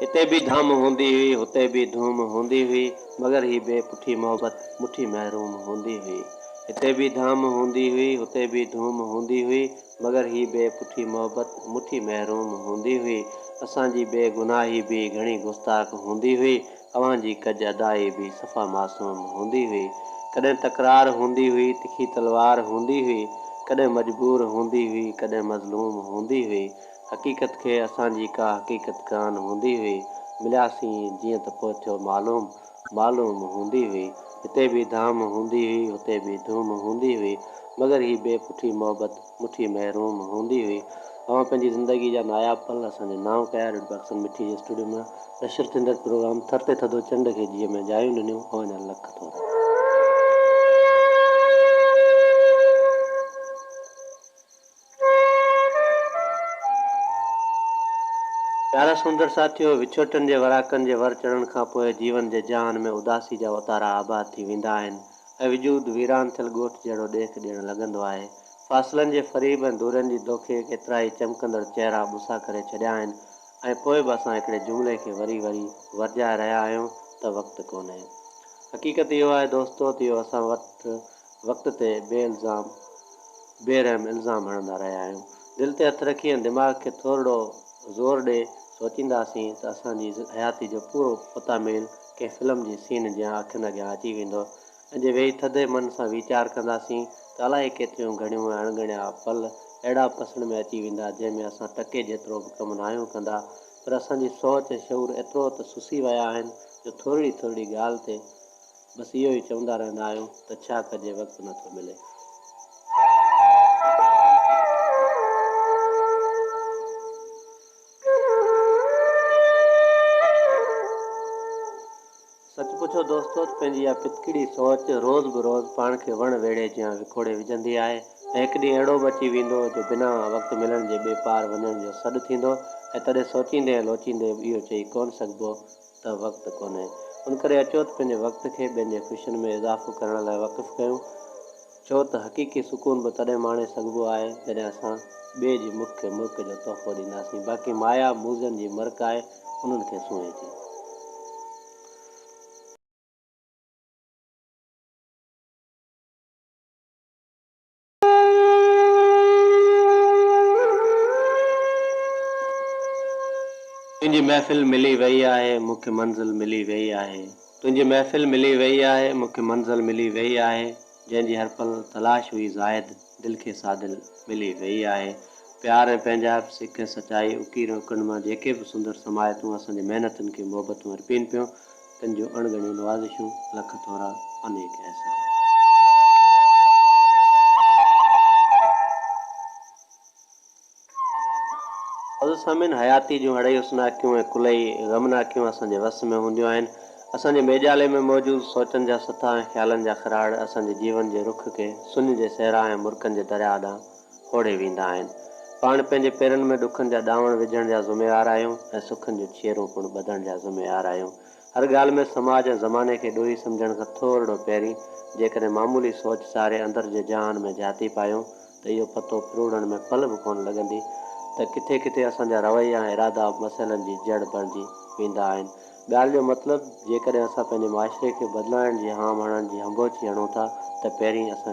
هتي به ڌام هوندي هئي، هتي به ڌوم هوندي هئي، مگر هي بي پٺي محبت مٺي محروم هوندي هئي. هتي به ڌام هوندي هئي، هتي به ڌوم هوندي هئي، مگر هي بي پٺي محبت مٺي محروم هوندي هئي. اسان جي بي گناهي به گهڻي گستاخ هوندي هئي، اوهان جي ڪج ادائي به صفا معصوم هوندي هئي. ڪڏهن تڪرار هوندي هئي، تکي تلوار هوندي هئي، ڪڏهن مجبور هوندي هئي، ڪڏهن مظلوم هوندي هئي، حقيقت کي اسان جي ڪا حقيقت ڪانه هوندي هئي، ملياسين جيئن ته پوء ٿيو معلوم، معلوم هوندي هئي. هتي به ڌام هوندي هئي، هتي به ڌوم هوندي هئي، مگر هي بي پٺي محبت مٺي محروم هوندي هئي. اوهان پنهنجي زندگيء جا ناياب پل اسان جي نانء ڪيا، ريڊيو پاڪستان مٺي جي اسٽوڊيو مان نشر ٿيندڙ پروگرام ٿر تي ٿڌو چنڊ کي جيء ۾ جايون ڏنيون، اوهان جا لک ٿورا. پيارا سمنڊر ساٿيو! وڇوٽن جي وراڪن جي ور چڙهڻ کان پوء جيون جي جهان ۾ اداسي جا اوتارا آباد ٿي ويندا آهن ۽ وجود ويران ٿيل ڳوٺ جهڙو ڏيک ڏيڻ لڳندو آهي. فاصلن جي فريب ۽ دورين جي دوکي ڪيترائي چمڪندڙ چهرا ٻوسا ڪري ڇڏيا آهن ۽ پوء به اسان هڪڙي جملي کي وري وري ورجائي رهيا آهيون ته وقت ڪونهي. حقيقت اهو آهي دوستو ته اهو اسان وٽ وقت تي بي الزام بي رحم الزام هڻندا رهيا آهيون. دل تي هٿ رکي ۽ دماغ کي ٿورڙو زور ڏئي سوچينداسين ته اسان جي حياتي جو پورو پتاميل ڪنهن فلم جي سين جيان اکين اڳيان اچي ويندو ۽ جي ويهي ٿڌي من سان ويچار ڪنداسين ته الائي ڪيتريون گهڻيون ۽ اڻگڻيا پل اهڙا پسڻ ۾ اچي ويندا جنهن ۾ اسان ٽڪي جيترو به ڪم ناهيون ڪندا پر اسان جي سوچ ۽ شعور ايترو ته سسي ويا آهن جو ٿورڙي ٿورڙي ڳالهه تي بس اهو ئي چوندا رهندا آهيو ته ڇا ڪجي وقت نه ٿو ملي. سچ پڇو دوستو ته پنهنجي اها پتڪڙي سوچ روز به روز پاڻ کي وڻ ويڙهي جيان وڪوڙي وجهندي آهي ۽ هڪ ڏينهن اهڙو به اچي ويندو جو بنا وقت ملڻ جي ٻي پار وڃڻ جو سڏ ٿيندو ۽ تڏهن سوچيندي ۽ لوچيندي به اهو چئي ڪونه سگهبو ته وقت ڪونهي، ان ڪري اچو ته پنهنجي وقت کي ٻين جي خوشين ۾ اضافو ڪرڻ لاء وقف ڪيون، ڇو ته حقيقي سڪون به تڏهن ماڻي سگهبو آهي، جڏهن اسان ٻئي جي مک کي ملڪ جو تحفو ڏينداسين، باقي مايا موذن جي مرڪ آهي، انهن کي سونهي ٿي. تنهنجي محفل ملي ويئي آهي، مون کي منزل ملي ويئي آهي. تنهنجي محفل ملي ويئي آهي، مون کي منزل ملي ويئي آهي. جنهن جي هر پل تلاش هئي زاهد، دل کي سا دل ملي ويئي آهي. پيار ۽ پنهنجائپ، سڪ ۽ سچائي، اڪير ۽ اڪنڊ مان جيڪي به سندر سمايتون اسان جي محنتن کي محبتون ارپين پيون، تن جون اڻ ڳڻيون نوازشون، لک ٿورا، انيڪ احسان. عزيز سامعين! حياتيء جون اڙهي حسناڪيون ۽ ڪلهي غمناڪيون اسان جي وس ۾ هونديون آهن. اسان جي ميڄالي ۾ موجود سوچن جا سٿا ۽ خيالن جا خراڙ اسان جي جيون جي رخ کي سڃ جي صحرا ۽ مرڪن جي درياهه ڏانهن ڦوڙي ويندا آهن. پاڻ پنهنجي پيرن ۾ ڏکن جا ڏانوڻ وجهڻ جا ذميوار آهيون ۽ سکن جون ڇيرون پڻ ٻڌڻ جا ذميوار آهيون. هر ڳالهه ۾ سماج ۽ زماني کي ڏوهي سمجهڻ کان ٿورڙو پهرين جيڪڏهن معمولي سوچ ساري اندر جي جهان ۾ جهاتي پايون ته اهو پتو ڦروڙڻ ۾ پل به ڪونه لڳندي ته ڪٿي ڪٿي اسان جا رويا ۽ ارادا مسئلن جي جڙ بڻجي ويندا آهن. ڳالهه جو مطلب جيڪڏهن اسان پنهنجي معاشري کي بدلائڻ جي هام هڻڻ جي هنڀوڇي هڻون ٿا ته پهرين اسان